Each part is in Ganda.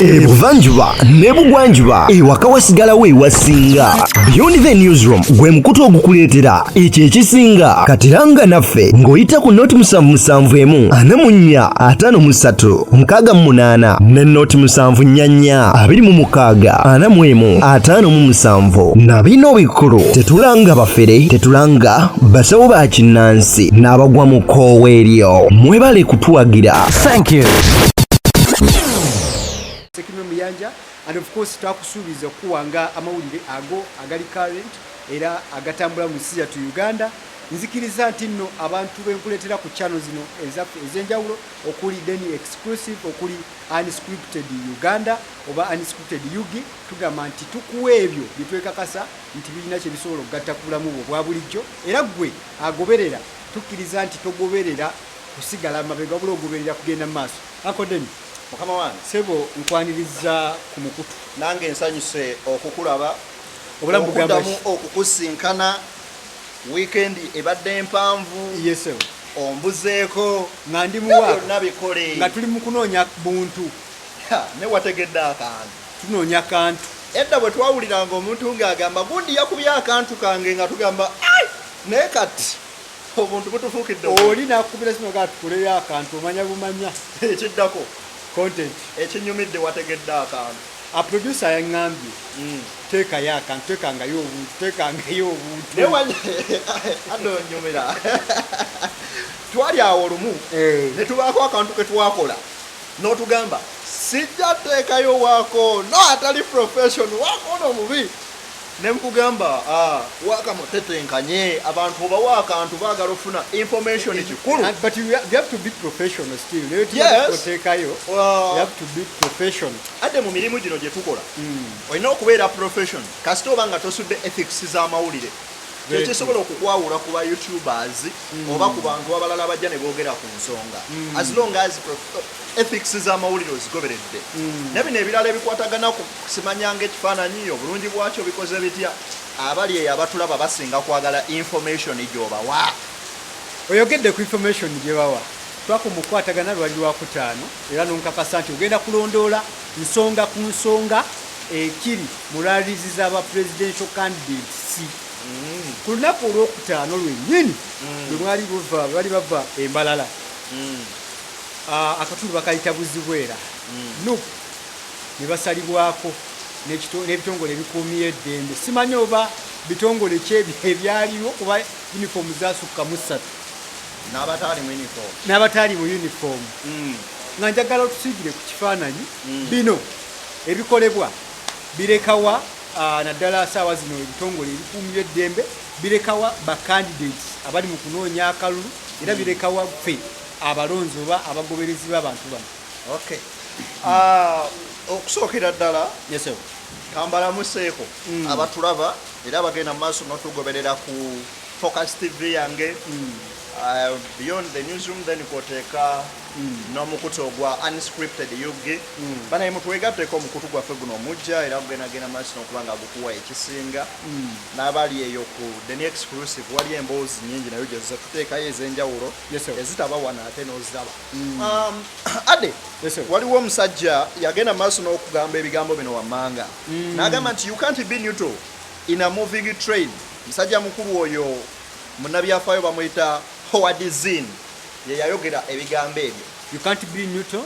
ebuvanjuba ne bugwanjuba ewaka wasigalawo ewasinga beyond the newsroom gwe mukutu ogukuleetera ekyo ekisinga katiranga naffe ng'oyita ku noti musanvu musanvu emu ana mu nnya ataano mu ssatu mukaaga mu munaana ne noti musanvu nnya nnya abiri mu mukaaga ana mu emu ataano mu musanvu na bino bikulu tetulanga bafere tetulanga basawo ba kinnansi n'abagwa mu kkoowa eryo mwebale kutuwagira thank you muyanja and of course twakusuubiza okukuwa nga amawulire ago agali current era agatambula mu nsi yattu uganda nzikiriza nti nno abantu benkuleetera ku channel zino ezaffe ez'enjawulo okuli deni exclusive okuli unscripted uganda oba unscripted ug tugamba nti tukuwa ebyo byetwekakasa nti birina kye bisobola okugatta ku bulamu bwo obwa bulijjo, era ggwe agoberera tukkiriza nti togoberera kusigala mabega wabula ogoberera kugenda mu maaso. Uncle Deni, Mukama wange. Ssebo nkwanirizza ku mukutu. Nange nsanyuse okukulaba, Obulamu bugamba ki? okuddamu okukusinkana. Wiikendi ebadde mpanvu. Ye ssebo. Ombuzeeko. Nga ndi mu Ebyo waaka. byonna bikole. Nga tuli mu kunoonya buntu. Ha, naye wategedde akantu. Tunoonya kantu. Edda bwe twawuliranga omuntu ng'agamba gundi yakubye akantu kange nga tugamba ai naye kati obuntu butufuukidde oli nakubira kino ga tukuleyo akantu omanya bumanya ekiddako content ekinyumidde wategedde akantu aproducer yaŋambye mm. teekayo akantu tekangayo obuntu tekangayo obuntu adonyumira twali awo lumu eh. ne tubaako akantu ke twakola Notugamba sijja teekayo waako no atali profession waako ono mubi nemkugamba ah, waaka mutetenkanye abantu obawa akantu bagala ofuna information eh, eh, kikulu ah, but you have to be professional still oteekayo ah. to be profession adde mu mirimu gino gyetukola hmm. olina okubeera profession kasita oba nga tosudde ethics z'amawulire Tekisobola okukwawula ku ba you tubers mm. oba ku bantu abalala abajja ne boogera ku nsonga mm. as long as ethics z'amawulire ozigoberedde mm. ne bino ebirala ebikwatagana ku simanyanga ekifaananyi obulungi bwakyo bikoze bitya abali eyo abatulaba basinga kwagala information gyobawa oyogedde ku information gyebawa twaka omukwatagana lwali lwakutaano era nonkakasa nti ogenda kulondoola nsonga ku nsonga ekiri mu rallies za ba presidential candidates mm. ku lunaku olwokutaano lwennyini mm. lwe mwali buva bali bava embalala mm. ah, akatundu bakayita buzibwera mm. nup ne basalibwako n'ebitongole ebikuumiye eddembe simanyi oba bitongole kyebyo ebyaliwo kuba uniform zasukka mu ssatu n'abataali mu uniform mm. nga njagala otusiigire ku kifaananyi mm. bino Ebikolebwa birekawa naddala saawa zino ebitongole ebikuumira eddembe birekawa ba candidates abali mu kunoonya akalulu era hmm. birekawa ffe abalonzi oba abagoberezi b'abantu bano okay. uh, okusookera ddala yes, kambalamuseeko mm. abatulaba era abagenda mu maaso notugoberera ku focus tv yange mm. uh, beyond the newsroom then kwoteeka N'omukutu ogwa Unscripted ug. Banaye mutwegatteko, omukutu gwaffe guno muggya era gugenda genda maaso n'okuba nga gukuwa ekisinga. N'abali eyo ku The New Exclusive waliyo emboozi nnyingi nayo gye tuzze tuteekayo ez'enjawulo ezitaba wano ate n'oziraba. Ade, waliwo omusajja yagenda mu maaso n'okugamba ebigambo bino wammanga n'agamba nti, You can't be neutral in a moving train. Musajja mukulu oyo munnabyafaayo bamuyita Howard Zinn. yeyayogera ebigambo ebyo you can't be neutral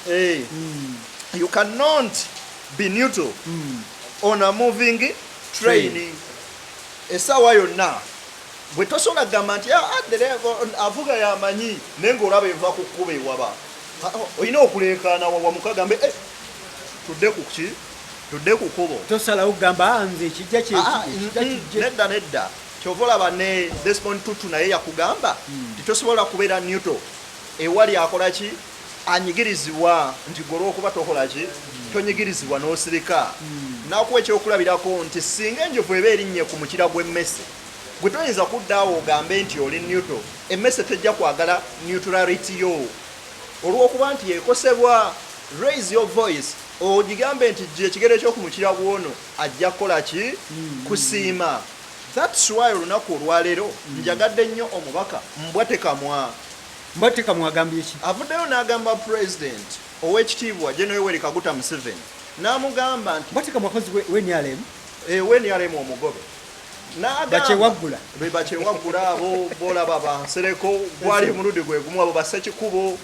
hey. Eh. mm. you cannot be neutral mm. on a moving train, train. esawa yonna bwe tosobola kugamba nti ah, ah, avuga yamanyi naye ngaolaba eva ku kkuba ewaba ah, oh, olina okuleekaana wawamukagambe eh, tudde ku ki tudde ku kubo tosalawo kugamba nze ekijja kyekijja nedda nedda Kyova olaba ne Desmond Tutu naye yakugamba nti tosobola kubeera neuto ewali akola ki anyigirizibwa nti gwe olwokuba tokola ki tonyigirizibwa n'osirika. Nakuwa ekyokulabirako nti singa enjovu eba erinnye ku mukira gw'emmese gwe toyinza kudda awo ogambe nti oli neuto. Emmese tejja kwagala neutrality yo olwokuba nti ekosebwa. Raise your voice ogigambe nti ggya ekigere kyo ku mukira gw'ono ajja kukola ki? Kusiima. That's why olunaku olwaleero njagadde nnyo omubaka Mbwatekamwa. Mbwatekamwa agambye ki? Avuddeyo n'agamba president ow'ekitiibwa General Yoweri Kaguta Museveni n'amugamba nti. Mbwatekamwa kozi we NRM. Eh, we NRM omugobe. bakyewaggula be bakyewaggula abo bolaba bansereko gwali omulundi gwe gumu abo basekikubo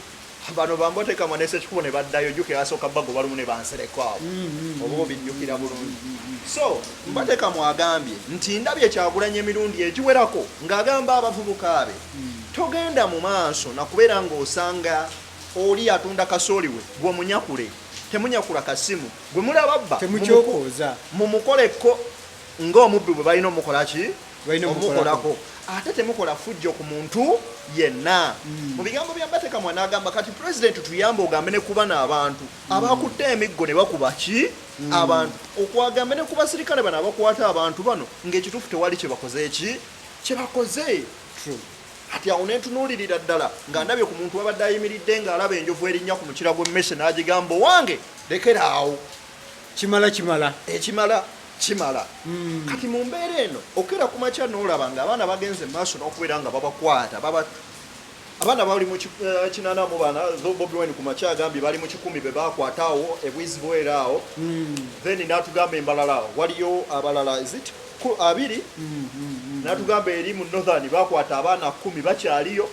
bano bambotekamwa ne sekikubo ne baddayo ojjukira basooka bagoba lumu ne bansereko awo mm, mm, mm, oba obijjukira bulungi so mbatekamwa agambye nti ndabye kyagulanya emirundi egiwerako ng'agamba abavubuka be togenda mu maaso nakubeera ng'osanga oli atunda kasooli we gwomunyakule temunyakula kasimu gwe mulababba mumukoleko nga omubbi bwe balina omukola ki omukolako ate temukola fujjo ku muntu yenna hmm. mu bigambo bya batekamwa n'agamba kati pulezidenti tuyambe ogambe ne kubana abantu hmm. abakutte emiggo ne bakuba ki hmm. abantu okwagambe ne ku basirikale bano abakwata abantu bano ng'ekituufu tewali kye bakoze eki kye bakoze kati awo nentunuulirira ddala nga ndabye ku muntu wabadde ayimiridde ng'alaba enjovu erinnya ku mukira gw'emmese n'agigamba owange lekera awo kimala kimala ekimala kimala mm. kati mu mbeera eno okera ku makya n'olaba nga abaana bagenze maaso n'okubeera nga babakwata baba abaana bali mu eh, kinana mu bana bobi wine ku makya agambye bali mu kikumi be bakwata awo ebwizi bwera awo mm. then n'atugamba embalala waliyo abalala ezit abiri mm, mm, mm. n'atugamba eri mu northern bakwata abaana kumi bakyaliyo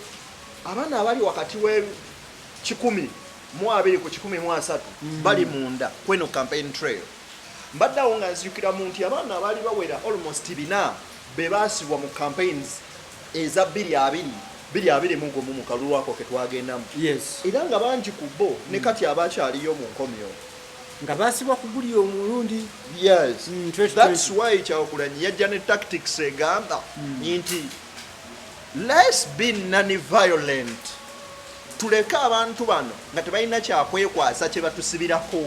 abaana abali wakati w'ekikumi mu abiri ku kikumi mu asatu mm. bali munda kweno campaign trail mbadde awo nga nzijukira mu nti abaana abaali bawera almost bina be baasibwa mu campaigns eza bbiri abiri biri abiri mu gumu mukalulwako ke twagendamu era nga bangi ku bo ne mm. kati abakyaliyo mu nkomyo nga baasibwa ku guli omulundi yes mm, that's why kyawakulanyi yajja ne tactics egamba mm. nti Let's be non-violent. Tuleke abantu bano nga tebalina kyakwekwasa kye batusibirako.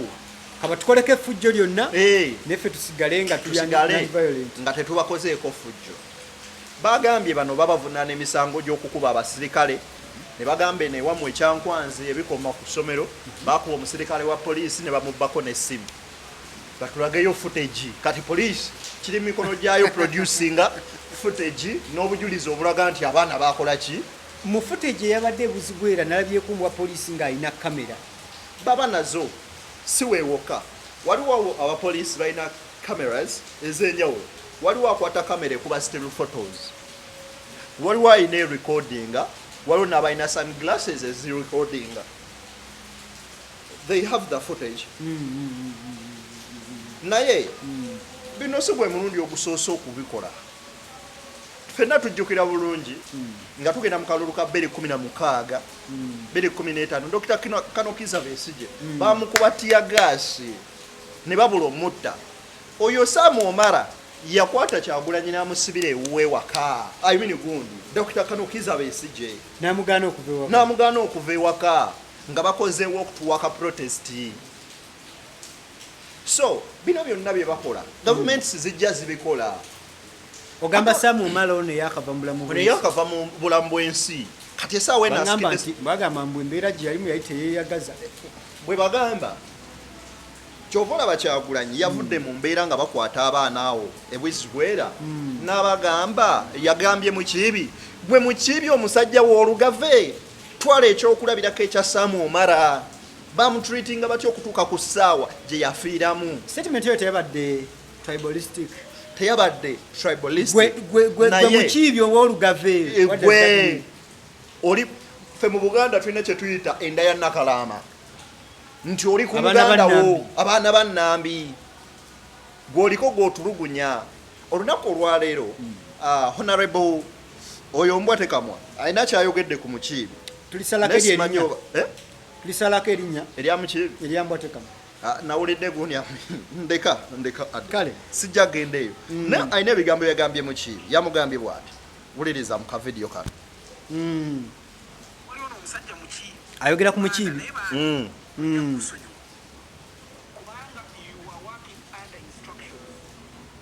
Kaba tukoleko effujjo lyonna eh. neffe tusigale nga tusigale nga tetubakozeeko ffujjo. Bagambye bano babavunaana emisango gy'okukuba abasirikale ne bagamba eno ewamu ekyankwanzi ebikoma ku ssomero bakuba omusirikale wa poliisi ne bamubbako n'essimu. batulageyo footage kati police kiri mikono gyayo producinga footage n'obujulizi obulaga nti abaana bakola ki mu footage eyabadde ebuzibu era nalabyeko mbwa police ng'alina kamera baba nazo si wewoka waliwo abapolice balina cameras ez'enjawulo waliwo akwata kamera ekuba still photos waliwo alina erecordinga waliwo n'abalina sun glasses ezirecordinga they have the footage naye bino si gwe mulundi ogusoose okubikola fenna tujjukira bulungi nga tugenda mu kalulu ka beri kumi na mukaaga beri kumi n'etaano dokita kanokiza besije bamukuba tiya gaasi ne babula omutta oyo saamu omara yakwata kyagulanyi namusibira ewuwe waka imini gundi dokita kanokiza besije namugaana okuva ewaka nga bakoze walk to work protest so bino byonna bye bakola government mm. zijja zibikola ogamba samu omala ono yakava mu bulamu bwensi yakava mu bulamu bwensi kati esaawa eno asikidde nti bagamba mbu embeera gye yalimu yali teyeyagaza bwe bagamba kyova olaba kyagulanyi yavudde mu mbeera nga bakwata abaana awo ebwizibwera hmm. n'abagamba yagambye mukiibi gwe mukiibi omusajja w'olugave Twala ekyokulabirako ekya Sam Omara, bamutreatinga batya okutuuka ku ssaawa gye yafiiramu? Statement eyo teyabadde tribalistic teyabadde tribalistic mukiibi owolugave eh, oli fe mu buganda tulina kyetuyita enda ya nakalaama nti oli ku muganda wo abaana ba nambi gwoliko gwotulugunya olunaku olwaleero hmm. ah, honorable Oyo mbwa tekamwa alina kyayogedde ku mukiibi. Tulisalako erinya. Eh? Tulisalako erinya. Erya mukiibi. Erya mbwa tekamwa. Ah, nawulidde gundi ndeka ndeka kale sijja genda eyo mm. naye alina ebigambo yagambye mukiibi yamugambye bwati wuliriza mu kavidiyo kano mm. ayogera ku mukiibi mm.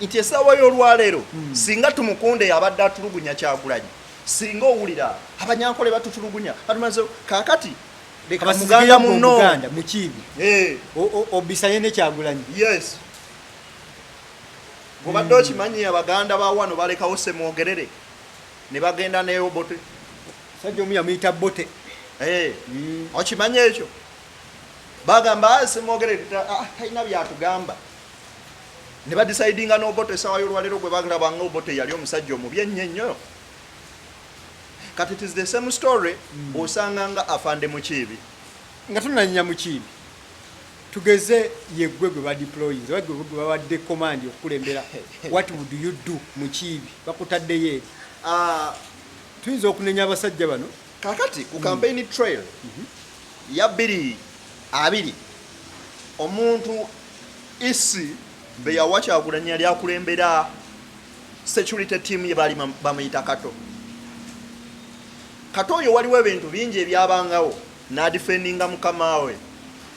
nti esaawa y'olwaleero hmm. singa tumukunde yabadde atulugunya kyagulanyi singa owulira abanyankole batutulugunya batumaze kakati muganda munoganda mukiibi eh. obisanye nekyagulanyi yes obadde hmm. okimanyi abaganda bawano balekawo semwogerere ne bagenda neyo bote sajja omu yamuyita bote eh. hmm. okimanyi ekyo bagamba ah, semwogerere ah, talina byatugamba ne ba decidinga n'Obote essaawa y'olwaleero gwe balaba nga Obote yali omusajja omubi ennyo ennyo kati it is the same story mm. osanga nga afande mukiibi nga tunanya mukiibi tugeze yeggwe gwe badeployinze oba gwe babadde command okukulembera what would you do mukiibi bakutaddeyo eri ah. tuyinza okunenya abasajja bano Kakati ku campaign mm. trail mm-hmm. ya biri abiri omuntu isi beyawa kyagulanyi yali akulembera security team ye baali bamuyita kato kato oyo waliwo ebintu bingi ebyabangawo nadifendinga mukama we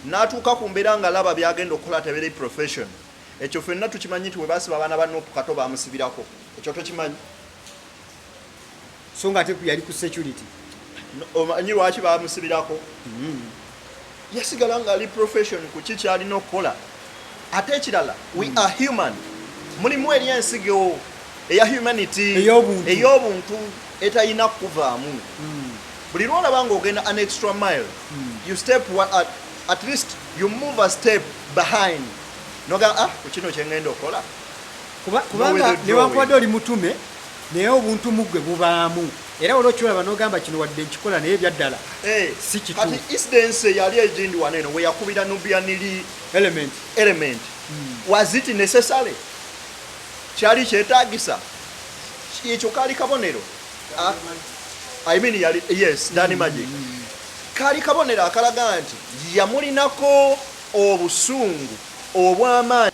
natuuka ku mbeera nga laba byagenda okukola tebere profession ekyo fenna tukimanyi nti webasiba abaana ba nupu kato bamusibirako ekyo tokimanyi so nga ate yali ku security omanyi lwaki bamusibirako mm-hmm. yasigala nga ali profession ku ki kyalina okukola ate ekirala we mm. are human mulimu eri ensigewo eya humanity ey'obuntu etalina kukuvaamu mm. buli lwolaba nga ogenda an extra mile mm. you step at, at least you move a step behind noga ah kukino kyengenda okukola kubanga newankubadde oli mutume Naye obuntu mu gwe bubaamu era waliwo kyolaba n'ogamba kino wadde nkikola naye ebyaddala eh, si kituufu. Kati incidence yali egindi wano eno we yakubira Nubian Li element, element. Mm. was it necessary? kyali kyetaagisa ekyo kaali kabonero ah, I mean, yali, yes, Danny Magic mm. mm. kaali kabonero akalaga nti yamulinako obusungu obw'amaanyi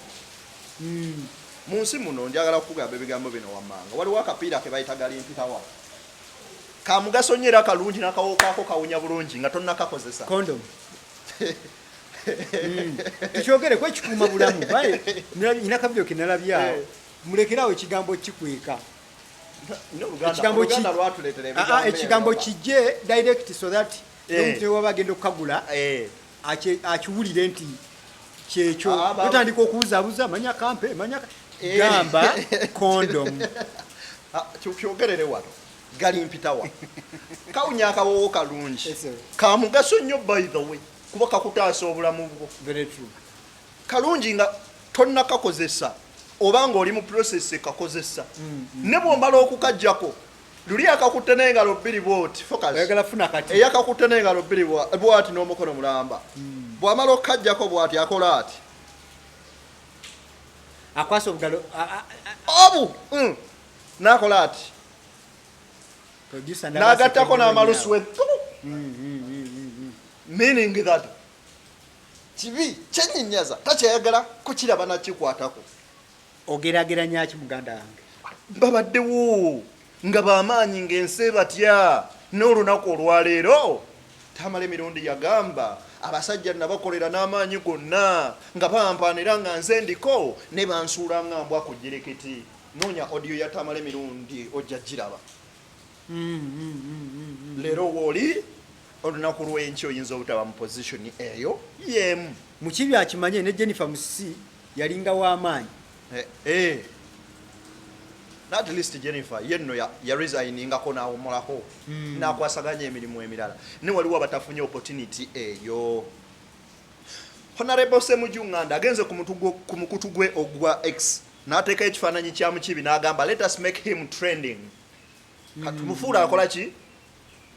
Hmm. mu nsi muno njagala kukugamba ebigambo bino wammanga waliwo akapiira ke bayita galimpitawa ka mugaso nnyo era kalungi nakawokaako kawunya bulungi nga tonnakakozesa hmm. tukyogere ku ekikuuma bulamu nyina kabiro ke nalabyawo eh. mulekerawo ekigambo kikweka ekigambo kijje ah, ah, direct so that eh. omuntu newaba agenda okukagula eh. akiwulire nti kyekyo otandika okubuzabuza manya kampe manya eh. gamba kondom ah, kyogerere wano gali mpitawa kawunya akawowo kalungi kamugaso nnyo by the way kuba kakutaasa obulamu bwo kalungi nga tonnakakozesa oba ng'oli mu process ekakozesa mm, mm. ne bwomala okukajjako luli akakutte n'engalo bbiri bwoti eyakakutte n'engalo bbiri bwati n'omukono mulamba hmm. bw'amala okukajjako bwati akola ati akwasa obugalo obu hmm. n'akola ati n'agattako n'amalusu we hmm, meaning that kibi kyenyinyaza takyayagala kukiraba nakikwatako Ogerageranya ki muganda wange? Babaddewo nga bamaanyi ng'ensi ebatya n'olunaku olwaleero. Tamale Mirundi yagamba, Abasajja nabakolera n'amaanyi gonna nga bampaana era nga nze ndiko naye bansuula nga mbwa ku jjereketi. Noonya audio ya Tamale Mirundi ojja giraba. leero wooli olunaku lwenki oyinza obutaba mu position eyo yemu mukibi akimanye ne jennifer musisi yalinga w'amaanyi eh, eh. at least jennifer yenno yaresigninngako n'awumulako hmm. n'akwasaganya emirimu emirala ne waliwo abatafunye opportunity eyo honarebo semujunganda agenze ku mukutu gwe ogwa x n'ateeka ekifaananyi kya mukibi n'agamba let us make him trending katumufuula akola ki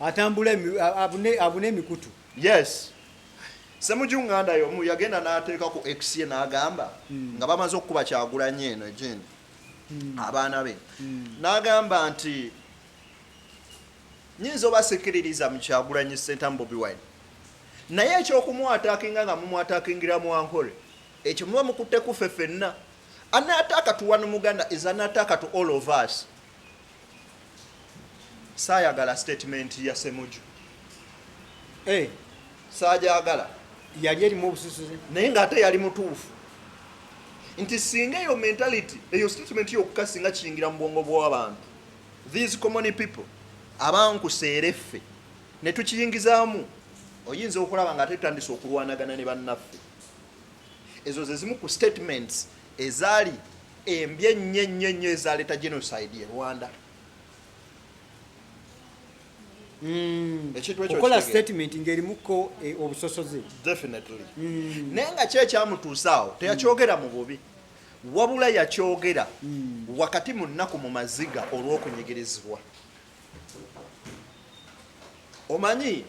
atambula abune emikutu yes semuju nganda yomu yagenda nateeka ku x ye nagamba hmm. nga bamaze okukuba kyagulanye eno egyendi hmm. abaana be hmm. nagamba nti nyinza obasikiririza mukyagulanye sentamu bobi wine naye ekyokumwatakinga nga mumwatakingira mwankole ekyo muba mukutte kuffe fenna anaataaka tuwa nomuganda is anaataaka to all of us Saayagala sitetimenti ya Semuju. Eh, saagyagala. Yali erimu obususuzi. Naye ng'ate yali mutuufu nti singa eyo mentality eyo statement yokka singa kiyingira mu bwongo bw'abantu these common people abankuseera effe ne tukiyingizaamu oyinza okulaba nga ate tutandise okulwanagana ne bannaffe ezo ze zimu ku statements ezaali embi ennyo ennyo ennyo ezaleeta genocide e rwanda hmm. okola statement ngaerimuko e, obusosoze definitely hmm. naye nga kyekyamutuusaawo teyakyogera mu bubi wabula yakyogera hmm. wakati mu nnaku mu maziga olw'okunyigirizibwa omanyi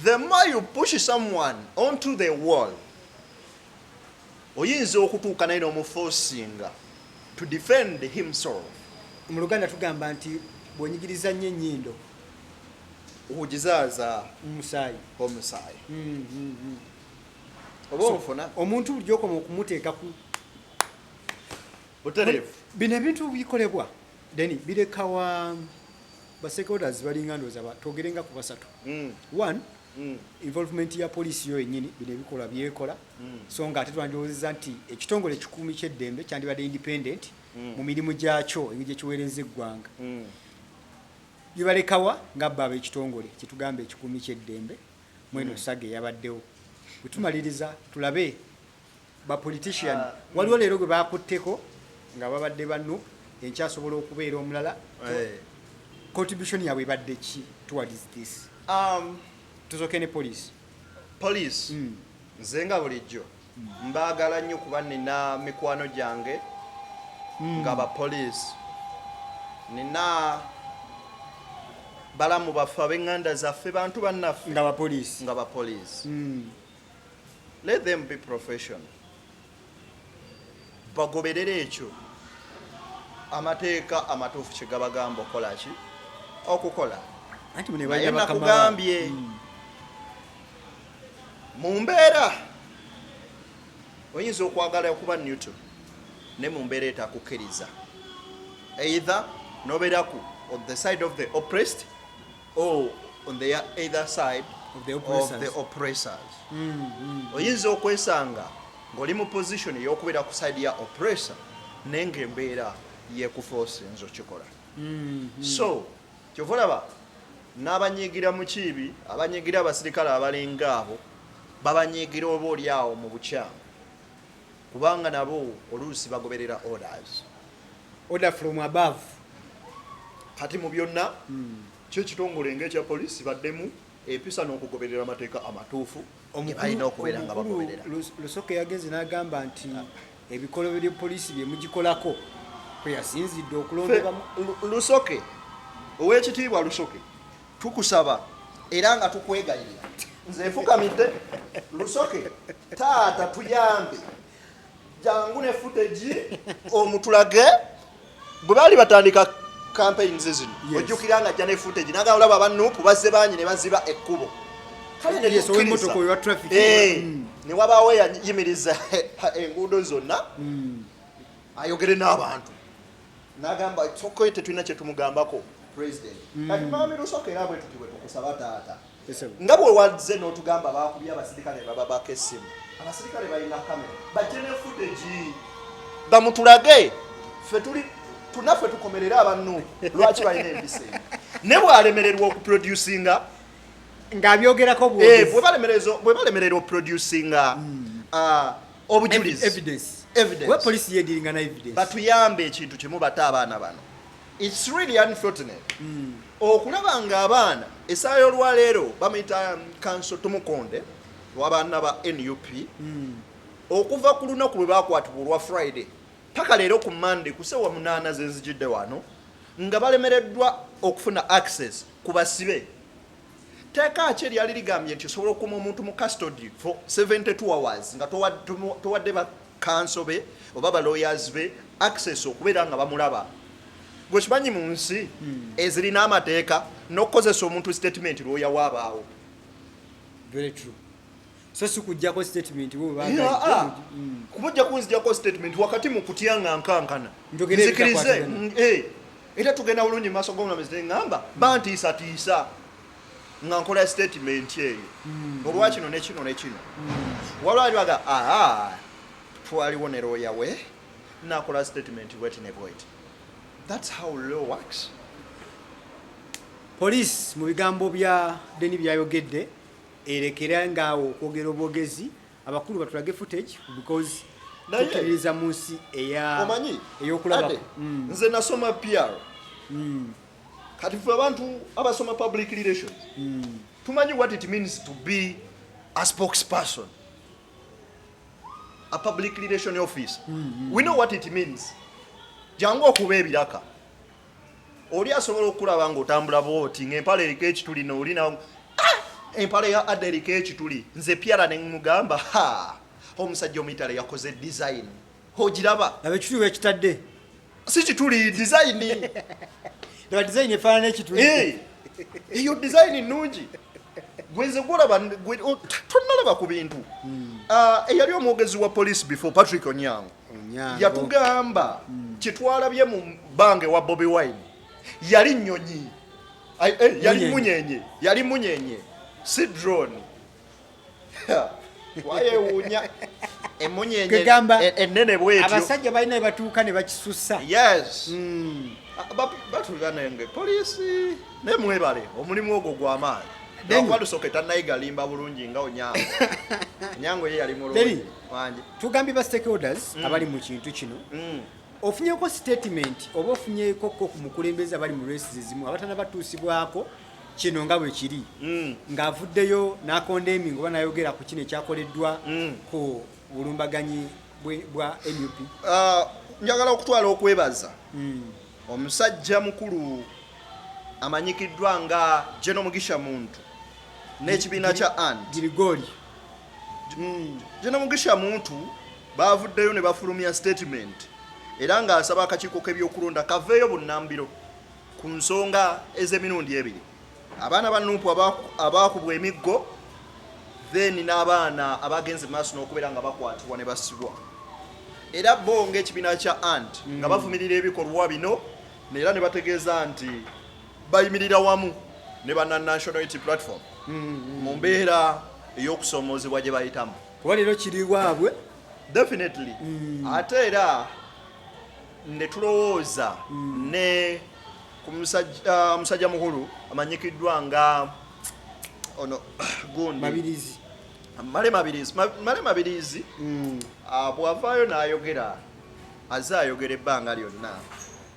The more you push someone onto the wall, oyinza okutuuka naye n'omufosinga to defend himself. Mu Luganda tugamba nti bw'onyigiriza nnyo ennyindo okugizaaza omusaayi omusaayi mm, mm, mm. oba ofuna omuntu buli gyokoma okumuteeka ku butereevu. Bino ebintu bikolebwa deni birekawa ba stakeholders balinga ndoza ba togerenga ku basatu mm. one mm. involvement ya police yo yenyini bino ebikola byekola mm. so nga ate twandowozeza nti ekitongole ekikuumi kyeddembe kyandibadde independent mm. mu mirimu gyakyo engeri gyekiweereza eggwanga mm. bibalekawa nga bba abekitongole kyetugamba ekikuumi kyeddembe mweno mm. saga eyabaddewo bwetumaliriza tulabe ba politician ah, mm. waliwo leero gwe bakutteko nga babadde ba nup enkya asobola okubeera omulala eh. contribution yabwe ebadde ki towards this um, tuzoke ne police police mm. nze nga bulijjo mm. mbaagala nnyo kuba nina mikwano gyange mm. nga ba police nina balamu baffe abenganda zaffe bantu bannaffe nga bapoliisi nga bapoliisi mm. let them be professional bagoberere ekyo amateeka amatuufu kyegabagamba okukola ki okukola naye nakugambye hmm. mu mbeera oyinza okwagala okuba newton ne mu mbeera etakukkiriza either noberaku on the side of the oppressed Oh, on the either side of the oppressors, of the oppressors. Mm, mm, oyinza okwesanga ng'oli mu position ey'okubeera ku side ya oppressor naye ng'embeera yekufosa enza okikola mm, mm. so kyova olaba n'abanyigira mu kiibi abanyigira abasirikale abalinga abo babanyigira oba oli awo mu bukyamu kubanga nabo oluusi bagoberera orders order from above kati mu byonna hmm. kyo ekitongole nga ekya poliisi baddemu empisa n'okugoberera amateeka amatuufu alina okubeera nga bagoberera lusoke yagenze n'agamba nti ebikolobero poliisi bye mugikolako kwe yasinzidde okulondebamu lusoke ow'ekitiibwa lusoke tukusaba era nga tukwegayirira nze nfukamidde lusoke taata tuyambe jangu ne footage omutulage bwe baali batandika campaigns zino ojjukira nga ajja ne footage naga olaba aba nup bazze bangi ne baziba ekkubo eh, mm. ne wabaawo eyayimiriza enguudo zonna mm. ayogere n'abantu nagamba it's okay tetulina kyetumugambako president mm. kati mami lusoka era bwetuti bwetukusaba taata nga bwe wazze n'otugamba bakubye abasirikale bababako essimu abasirikale balina kamera bajje ne footage bamutulage fe tuli tunaffe tukomerere abannu lwaki balina empisa ne bwalemererwa okuproducinga ng'abyogerako bwebalemerera eh, oproducinga mm. ah, obujulizi evidence evidence we police yediringa na evidence batuyambe ekintu kimu bata abaana bano it's really unfortunate mm. okulaba nga abaana esaa yolwaleero bamuyita um, kanso tumukonde wabaana ba nup mm. okuva ku lunaku lwe bakwatibwa olwa friday paka leero ku monday kusewa munaana zenzijidde wano nga balemereddwa okufuna access ku basibe Tteeka ki eryali ligambye nti osobola okukuuma omuntu mu custody for 72 hours nga towadde bakanso be oba baloyers be access okubeera nga bamulaba gwe kimanyi mu nsi hmm. ezirina amateeka n'okukozesa omuntu statement lwoyawaabaawo so si kujjako statement bo baba Yeah, ah. Mm. kuba ojja kunzijako statement wakati mu kutya nga nkankana Njogera nzikirize ebitakwatagana. mm, eh. era tugenda bulungi mu maaso g'omulamuzi ne ŋŋamba bantiisatiisa nga nkola statement eyo Mm. olwa kino ne kino ne kino waliwo ali baga aa twaliwo ne looya we nakola statement bweti ne bweti thats how law works police mu bigambo bya deni byayogedde Erekera nga awo okwogera obwogezi abakulu batulage footage because tukiririza mu nsi eyokulaba mm. nze nasoma pr mm. kati fe abantu abasoma public relations mm. tumanyi what it means to be a spokesperson a public relation office mm -hmm. we know what it means jangu okuba ebiraka oli asobola okulaba nga otambula bwoti nga empala eriko ekituli nooli na ah! empala ya ada eriko ekituli nze pyala nemugamba ha omusajja omuitale yakoze design ogiraba laba ekituli wekitadde si kituli design laba design efaanana ekituli eh! eyo design nungi gwenze gwolaba tonnalaba ku bintu hmm. ah, eyali omwogezi wa police before patrick onyango yatugamba hmm. kyetwalabye mu bange wa bobi wine yali nyonyi eh, yali munyenye yali munyenye si drone wayewuunya emunyenye e, enene bwetyo abasajja balina ebatuuka ne bakisusa yes hmm. batulira nenge poliisi naye mwebale omulimu ogwo gwamaanyi akuba lusoke tanayigalimba bulungi nga onyango onyango ye yali mulungi tugambye ba stakeholders mm. abali mu kintu kino mm. ofunyeko statement oba ofunyeko ko ku mukulembeze abali mu race zizimu abatana batuusibwako kino nga bwe kiri mm. ng'avuddeyo n'akonda emingo oba nayogera ku kino ekyakoleddwa mm. ku bulumbaganyi bwa nup ah, njagala okutwala okwebaza mm. omusajja mukulu amanyikiddwa nga jeno mugisha muntu n'ekibiina kya and Hmm, Jena Mugisha Muntu baavuddeyo ne bafulumya statement era ng'asaba akakiiko k'ebyokulonda kaveeyo bunnambiro ku nsonga ez'emirundi ebiri abaana ba nuupu abaakubwa emiggo then n'abaana abagenze maaso n'okubeera nga bakwatibwa ne basibwa era bo ng'ekibiina kya ant nga hmm. bavumirira ebikolwa bino era ne bategeeza nti bayimirira wamu ne bana National Unity Platform mu mbeera ey'okusoomoozebwa gye bayitamu kuba leero kiri waabwe definitely mm. ate era ne tulowooza mm. ne ku musajja musajja mukulu amanyikiddwa nga ono gundi mabirizi male mabirizi male mabirizi mm. ah, bwavaayo n'ayogera aze ayogera ebbanga lyonna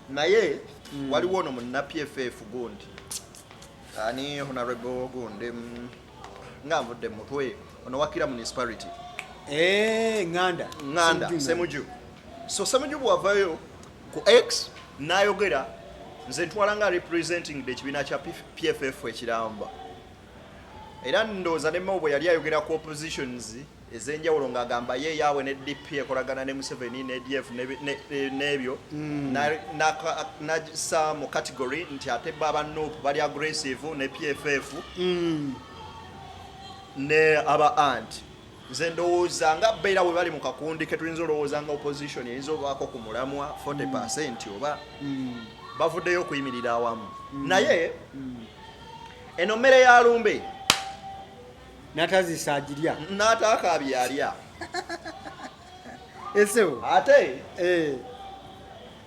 naye mm. waliwo ono munna pff gundi ani honorable gundi mm, nga nvudde mutwe ono wakira municipality eh, nganda nganda semuju so semuju bwavayo ku x nayogera nze ntwala nga representing the ekibiina kya pff ekiramba era ndowooza nemawo bwe yali ayogera ku oppositions ezenjawulo ng'agamba ye yaawe ne DP ekolagana ne Museveni ne ADF n'ebyo hmm. nasa mu category nti ate bo aba nup bali aggressive ne PFF hmm. ne aba ant nze ndowooza nga beera we bali mu kakundi ke tuyinza olowooza nga opposition eyinza obaako ku mulamwa 40 percent hmm. oba bavuddeyo okuyimirira awamu naye eno mmere ya lumbe natazisa agirya n'ataakaabye alya esewo ate eh,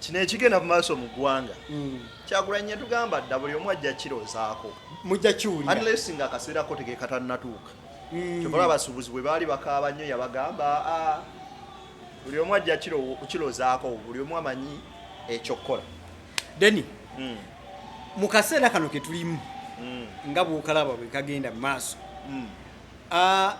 kino ekigenda mu maaso mu ggwanga mm. kyagulanyi yatugamba dda buli omu ajja kirozaako mujja kiwulira unless nga akaseera ko tegekatanatuuka Mm. kyobola abasuubuzi bwe baali bakaaba nnyo yabagamba "Ah, buli omu ajja kiro- kirozaako buli omu amanyi ekyokukola deni mm. mu kaseera kano ke tulimu mm. nga bwokalaba bwe kagenda mu maaso mm. uh,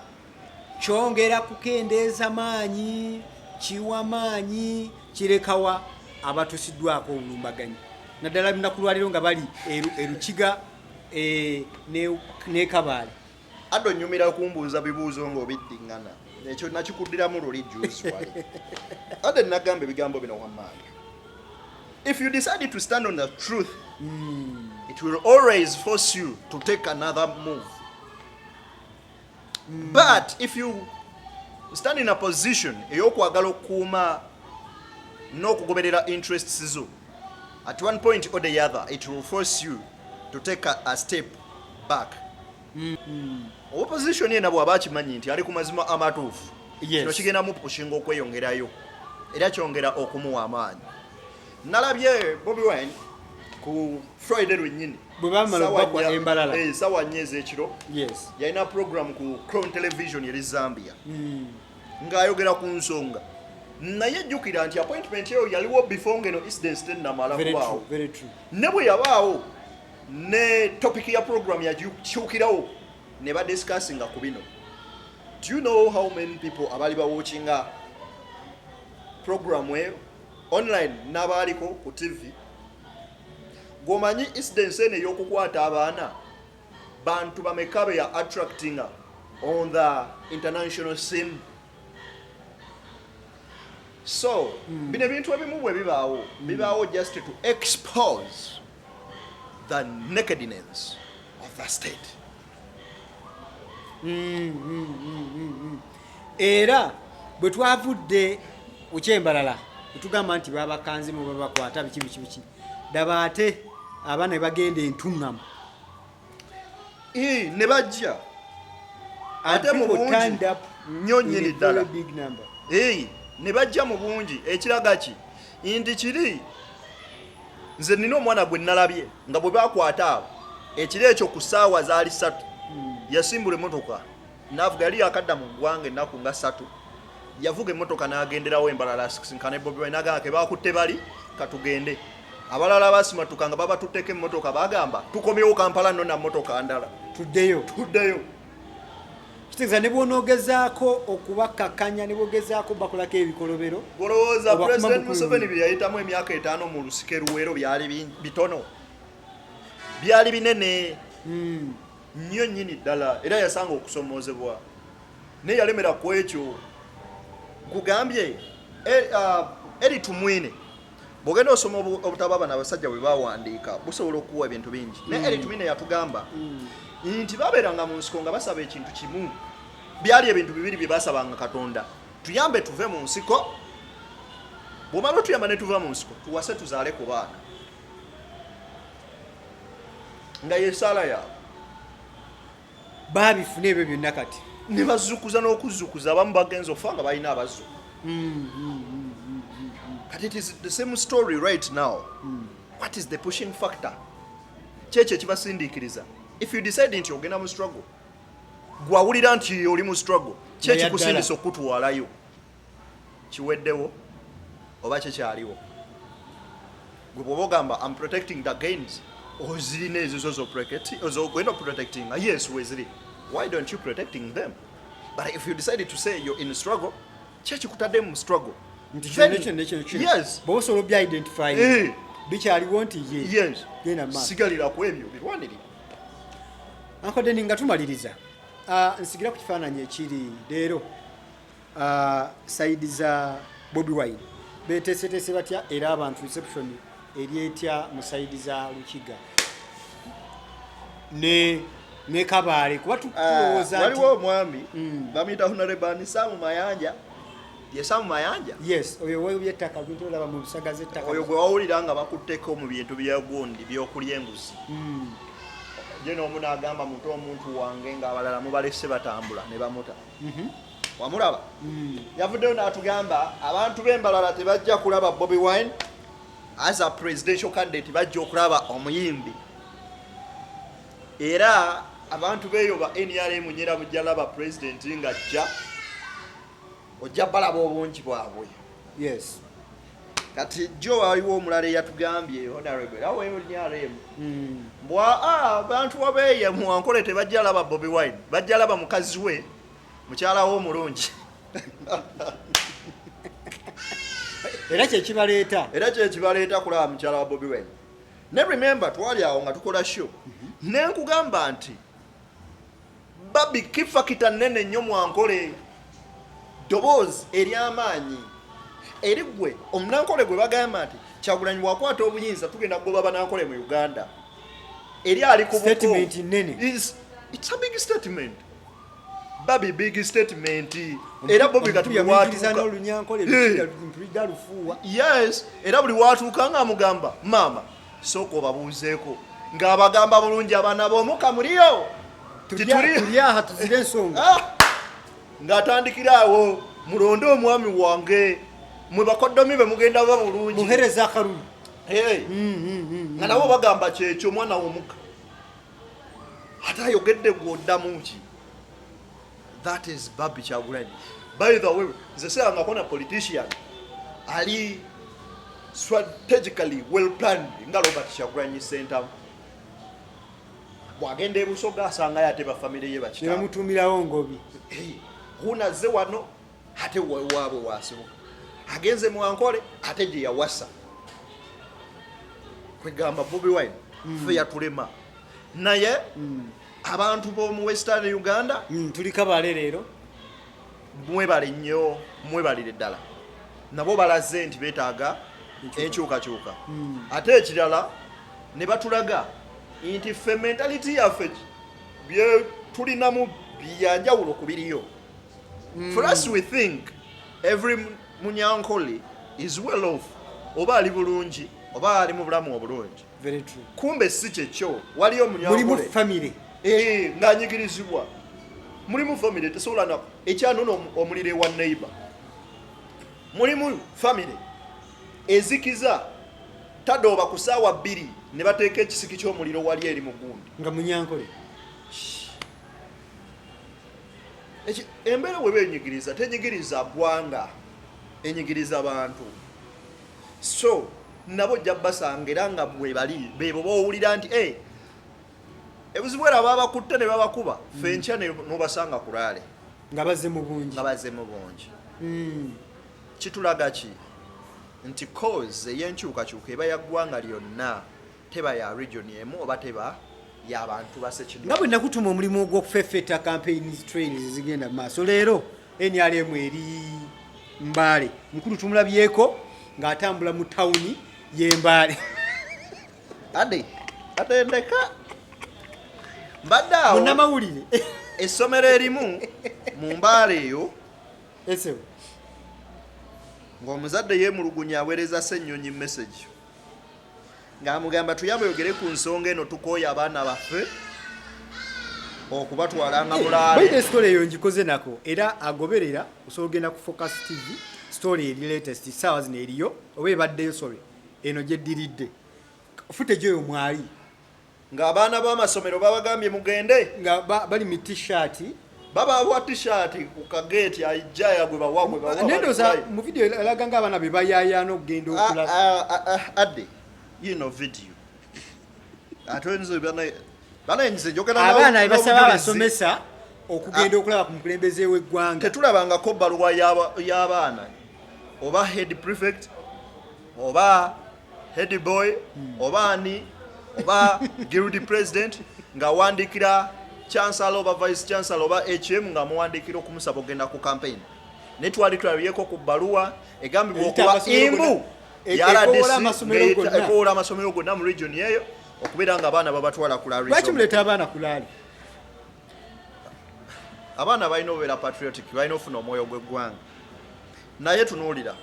kyongera kukendeeza maanyi kiwa maanyi kirekawa abatusiddwako obulumbaganyi naddala lunaku lwaliro nga bali erukiga e, nekabaale Adda onyumira okumbuuza bibuuzo ng'obiddingana ekyo nakikuddiramu luli juzi wali adda nagamba ebigambo bino wamaanyi if you decide to stand on the truth mm. it will always force you to take another move mm. but if you stand in a position eyokwagala okukuuma n'okugoberera interests zo at one point or the other it will force you to take a, a step back mm -hmm. opposition yena bwaba akimanyi nti ali ku mazima amatuufu yes. kino kigenda mupushinga okweyongerayo era kyongera okumuwa amaanyi nalabye bobi wine ku friday lwenyini sawa nyo ezekiro yalina program ku crown television eri zambia mm. ng'ayogera ku nsonga naye jjukira nti appointment eyo yaliwo before ngeno incidence tenamala kubaawo ne bwe yabaawo ne topic ya program yakyukirawo ne badiscussinga ku bino do you know how many people abaali bawatchinga programu eyo online n'abaaliko ku tv gwomanyi incidence eno ey'okukwata abaana Bantu bameka be ya attractinga on the international scene? So, hmm. bino ebintu ebimu bwe bibaawo, hmm. bibaawo just to expose the nakedness of the state. Hmm, hmm, hmm, hmm, hmm. Era bwe twavudde ukyembalala, etugamba nti babakanzi mu babakwata biki biki biki. daba ate abaana bagenda entuŋŋamu ne bajja ate mu bungi nnyo nnyini ddala ne bajja mu bungi ekiraga ki nti kiri nze nina omwana gwe nalabye nga bwe bakwata abo ekiro ekyo ku ssaawa zaali ssatu hmm. yasimbula emotoka Navuga yali yakadda mu ggwanga ennaku nga ssatu yavuga emmotoka n'agenderawo embalala asisinkana e Bobi Wine n'agamba ke baakutte bali katugende abalala basimatuka nga babatutteko emmotoka bagamba tukomyewo Kampala nno na mmotoka ndala tuddeyo tuddeyo kitegeeza ne bw'onoogezaako okubakkakkanya ne bwogezaako bakulako ebikolobero olowooza pulezidenti museveni bye yayitamu emyaka etaano mu lusike luweero byali bitono byali binene hmm. nnyo nnyini ddala era yasanga okusomoozebwa naye yalemera ku ekyo kugambye eh, ah, eri tumwine bwogenda osoma obutabo abana abasajja bwe bawandiika busobola okuwa ebintu bingi naye mm. eri tumwine yatugamba mm. nti babeeranga mu nsiko nga basaba ekintu kimu byali ebintu bibiri bye basabanga katonda tuyambe tuve mu nsiko bwomala otuyamba ne tuva mu nsiko tuwase tuzaale ku baana nga yesaala yaabwe babifuna ebyo byonna kati ne bazukuza n'okuzukuza abamu bagenza okufa nga balina abazu kati it is the same story right now what is the pushing factor kyekyo ekibasindiikiriza if you decide nti ogenda mu struggle gwawulira nti oli mu struggle kyekikusindisa okukutwalayo kiweddewo oba kikyaliwo gwe bwoba ogamba am protecting the gains ozirina ezizo zogenda oprotectinga yes weziri why don't you protecting them but if you decide to say you're in struggle kyekikutadde mu struggle bosobola obya identify eh. bikyaliwo nti ye sigalira ku ebyo birwaniri ankodeni nga tumaliriza ah, nsigira ku kifaananyi ekiri leero Uh, side za Bobi Wine beteeseteese batya era abantu reception eri etya mu side za Lukiga ne ne Kabale kuba tulowooza ah, nti waliwo omwami mm. bamuyita Honorable Anisamu Mayanja ye Samu Mayanja yes oyo wewe byettaka bintu olaba mu bisaga z'ettaka oyo gwe wawulira nga bakutteko mu bintu bya gundi by'okulya enguzi mm. ye n'omu n'agamba muto omuntu wange ng'abalala mubalese batambula ne bamuta mm -hmm. wamulaba hmm. yavuddeyo n'atugamba abantu b'embalala tebajja kulaba bobi wine as a presidential candidate bajja okulaba omuyimbi era abantu beeyo ba nrm nyera mujja laba president nga ajja ojja balaba obungi bwabwe yes kati jo waliwo omulala eyatugambye honorable era weyo nrm hmm. mbwa abantu wabeeye muwankole tebajja laba bobi wine bajja laba mukazi we mukyala wo omulungi era kyekibaleeta era kyekibaleeta kulaba mukyala wa bobi wen ne remember twali awo nga tukola show mhm. nenkugamba nti babi kifakita nene nnyo mwankole doboozi eryamaanyi eri gwe omunankole gwe bagamba nti kyagulanyi bwakwata obuyinza tugenda kugoba banankole mu uganda eri ali ku big statement babi big statement era bobi katuwatuka n'olunyankole lutuliga lufuuwa yes era buli watuuka nga amugamba maama sooka obabuuzeeko ng'abagamba bulungi abaana b'omuka muliyo tulyaha tuzire ensonga ah! ng'atandikira awo mulonde omwami wange mwe bakoddomi be mugenda ba bulungi muhereza akalulu mm, mm, mm, nga nabo bagamba kyekyo omwana w'omuka ate ayogedde gwe oddamu ki that is babi kyagulanyi by the way nze sirangako na politician ali strategically well planned nga robert kyagulanyi sentamu bwagenda ebusoga asangayo ate bafamire ye bakitamutumirawo ngobi hunazze wano ate waabwe wasibuka agenze mwankole ate gye yawasa kwegamba bobi wine mm. fe yatulema naye mm. abantu b'omu western uganda mm, tuli kabale leero mwebale nnyo mwebalire ddala nabo balaze nti betaaga enkyukakyuka hmm. ate ekirala ne batulaga nti ffe mentality yaffe byetulinamu byanjawulo ku biriyo mm. for us we think every munyankole is well off oba ali bulungi oba ali mu bulamu obulungi kumbe si kyekyo waliyo omunyankole eh, nganyigirizibwa mulimu famire tesobola na ekyanona omuliro ewa neighbor mulimu famire ezikiza tadooba ku saawa bbiri ne bateeka ekisiki ky'omuliro wali eri mu gundi nga munyankole embeera weba enyigiriza tenyigiriza gwanga enyigiriza bantu so nabo ojja basanga era nga bwebali bebo bowulira nti eh, ebuzibu era babakutte ne babakuba mm. fe nkya nobasanga kulaale nga baze mu bungi nga baze mu bungi mm. kitulaga ki nti cause eyenkyukakyuka eba ya ggwanga lyonna teba ya region emu oba teba ya bantu basekidu nga bwe nakutuma omulimu ogw'okufefeta campaigns trains zigenda mu maaso leero nrm eri mbaale mukulu tumulabyeko ng'atambula mu tawuni y'embaale ade atendeka mbadde awo munamawulire essomero erimu mu mbaale eyo esewo ng'omuzadde yeemulugunya aweereza ssennyonyi message ng'amugamba tuyamba oyogere ku nsonga eno tukooye abaana baffe okubatwala nga mulaale esitole eyo ngikoze nako era agoberera osobola ogenda ku focus tv story eri latest saawa zino eriyo oba ebaddeyo sorry eno gyeddiridde footage oyo mwali nga abaana b'amasomero babagambye mugende nga bali mu t-shirt babawa t-shirt ku kageeti aijaya gwe bawa gwe bawa nendoza mu video elaga nga abaana be bayayaana okugenda ah, okula ah, ah, adde you know video ate nze bana bana nze njogera nawe abaana basaba abasomesa okugenda okulaba ku mukulembeze w'eggwanga tetulabangako baluwa y'abaana oba head prefect oba head boy oba ani oba guild president nga wandikira chancellor oba vice chancellor oba hm nga muwandikira okumusaba okugenda ku campaign naye twali tulabyeko ku bbaluwa egambibwa okuba imbu e- yaradsekowoola amasomero gonna mu region eyo okubeera nga abaana babatwala kulakimuleta abaana kulaali abaana balina obeera patriotic balina ofuna omwoyo gw'eggwanga naye tunuulira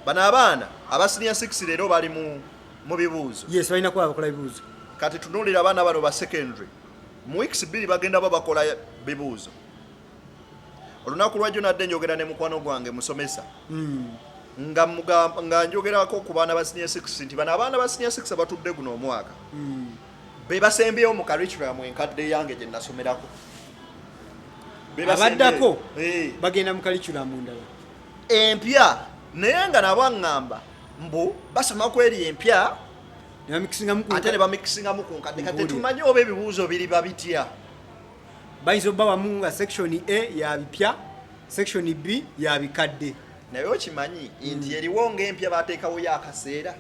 bano abaana aba senior 6 leero bali mu bibuuzo yes balina kuba bakola bibuuzo kati tunuulira abaana bano ba secondary mu weeks bbiri bagenda ba bakola bibuuzo olunaku lwajjo nadde njogera ne mukwano gwange musomesa hmm. nga nga njogerako ku baana ba senior 6 nti bano abaana ba senior 6 abatudde guno omwaka hmm. be basembyewo mu curriculum enkadde yange gye nasomerako abaddako eh. bagenda mu curriculum ndala empya naye nga nabo aŋŋamba mbu basoma kweri empya ate ne bamikisingamu ku nkadde kati tetumanyi oba ebibuuzo biri babitya bayinza obba wamu nga section a ya bipya section b ya bikadde naye okimanyi nti eriwo ngaempya bateekawo yo akaseera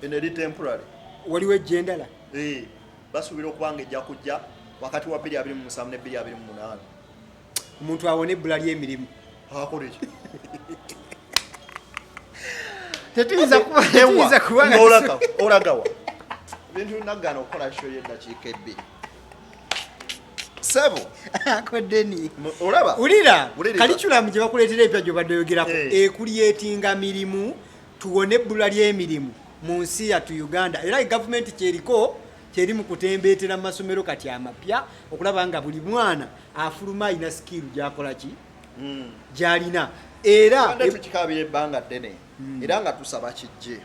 eno eri temporary waliwo ejja endala eh, basuubira okuba nga ejja kujja wakati wa 227 ne 228 omuntu awona ebbula ly'emirimu akoleki tetuyinza kubaolagawa bintu nagana okukola sho yedakiika ebbiri sebo akodeni olaba ulira kalikulamu gye bakuleetera ebya gyobadde oyogerako eh. ekuleetinga mirimu tuwone ebbula ly'emirimu mu nsi yattu Uganda era gavumenti kyeriko kyeri mu kutembeetera mu masomero kati amapya okulaba nga buli mwana afuluma alina sikiiru gyakola ki hmm. gyalina era tukikabira ebbanga ddene hmm. era nga tusaba kijje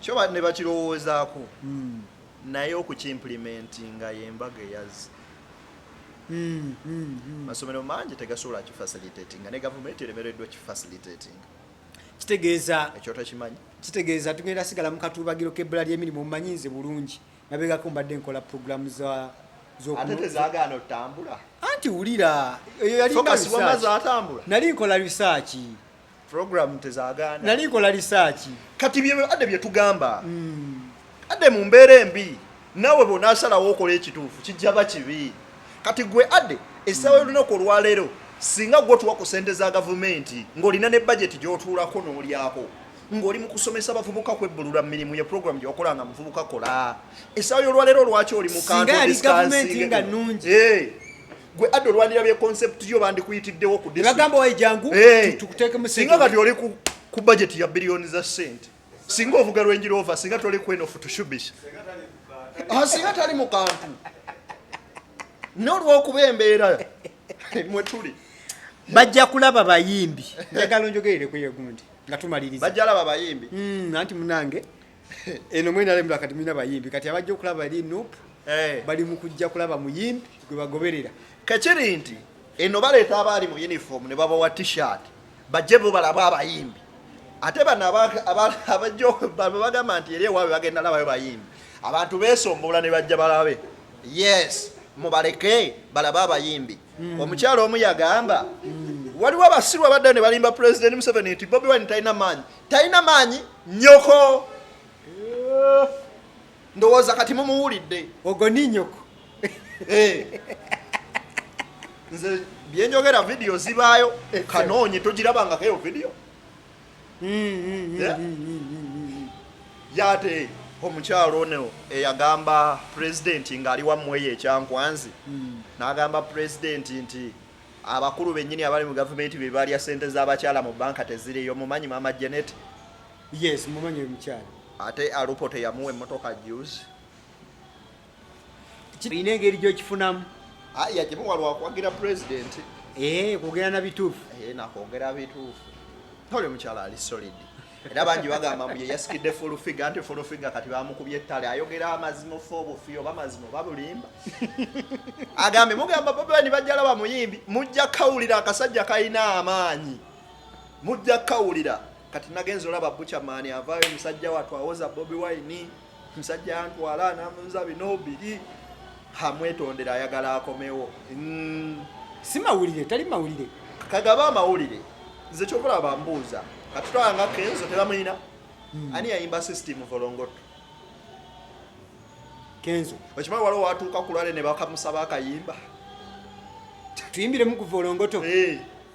kyo ne bakirowoozaako hmm. naye okukimplementinga yembaga eyazi masomero mangi tegasobola kifacilitatinga ne gavumenti eremereddwa kifacilitatinga kitegeeza ekyo takimanyi kitegeeza tugenda sigala mu katuubagiro k'ebbula ly'emirimu omumanyi nze bulungi nabegako mbadde nkola puroguramu za ate tezagaana otambula anti wulira eyo yali nali nkola risaaki program tezagana nali nkola risaaki kati byebadde byetugamba mm. ade mu mbeera embi nawe bwonasalawo okola ekituufu kijaba kibi kati gwe ade essaawa yolunaku olwaleero singa gwe otuwa ku sente za gavumenti ng'olina ne bajeti gy'otuulako n'olyako ng'oli mu kusomesa abavubuka kwebbulula mu mirimu ye puroguramu gyewakola nga muvubuka kola essaawa y'olwaleero lwaki oli mukantgavumenti nga nungi eh, gwe adde olwanira bye konsepti yo bandikuyitiddewo ku bagamba wayijangu eh, tukuteeke musinga kati oli ku bajeti ya biliyoni za sente singa ovuga Range Rover singa toli kweno futushubisha ah, singa tali mu kantu n'olwokuba embeera mwe tuli bajja kulaba bayimbi njagala onjogerere ku yegundi nga tumaliriza bajja laba bayimbi hmm, anti munange eno mwena lemula kati mulina bayimbi kati abajja okulaba eri nup eh. bali mu kujja kulaba muyimbi gwe bagoberera kakiri nti eno baleeta abaali mu uniform ne babawa t-shirt bajje bo balaba abayimbi ate bano abajjo bagamba nti eri ewaabwe bagenda labayo bayimbi abantu beesombola ne bajja balabe yes mubaleke balabe abayimbi hmm. omukyalo omu yagamba hmm. waliwo abasiru abadda ne balimba pulezidenti museveni nti bobi wine talina maanyi talina maanyi nyoko eh. ndowooza kati mumuwulidde ogo ninyoko eh. nze byenjogera vidiyo zibaayo kanoonyi togirabangako eyo vidiyo yate omukyalo ono eyagamba pulezidenti ng'ali wammweyo ekyankwanzi hmm. n'agamba pulezidenti nti abakulu bennyini abali mu gavumenti be balya ssente z'abakyala mu banka teziriyo mumanyi maama janet Yes, mumanyi oyo mukyala. Ate Alupo teyamuwa emmotoka juzi. Olina engeri gy'okifunamu. Ah, yagimuwa lwa kuwagira pulezidenti. Ee, eh, kwogera na bituufu. Ee, eh, nakwogera bituufu. Toli mukyala ali solid. Era bangi bagamba mbu ye yasikidde full figure anti full figure kati bamukubye ettale ayogera amazima ofa obufi oba mazima oba bulimba. Agambe mugamba Bobi Wine bajja laba muyimbi mujja kawulira akasajja kalina amaanyi. Mujja kawulira. kati nagenze olaba buchamani avaayo musajja watu awoza bobi wine musajja antwala namuza bino biri hamwetondera ayagala akomewo mm. si mawulire tali mawulire kagaba amawulire nze kyokola bambuuza katutwala nga kenzo tebamuyina mm. ani yayimba system volongoto kenzo okimanyi waliwo watuuka kulwale ne bakamusaba akayimba tuyimbiremu ku volongoto hey. Eh.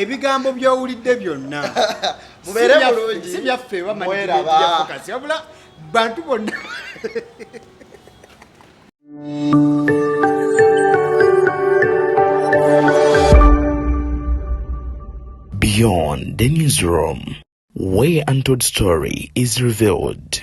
ebigambo byowulidde byonna mubeere bulungi si byaffe bamanyikasi wabula bantu bonna Beyond the newsroom, where untold story is revealed.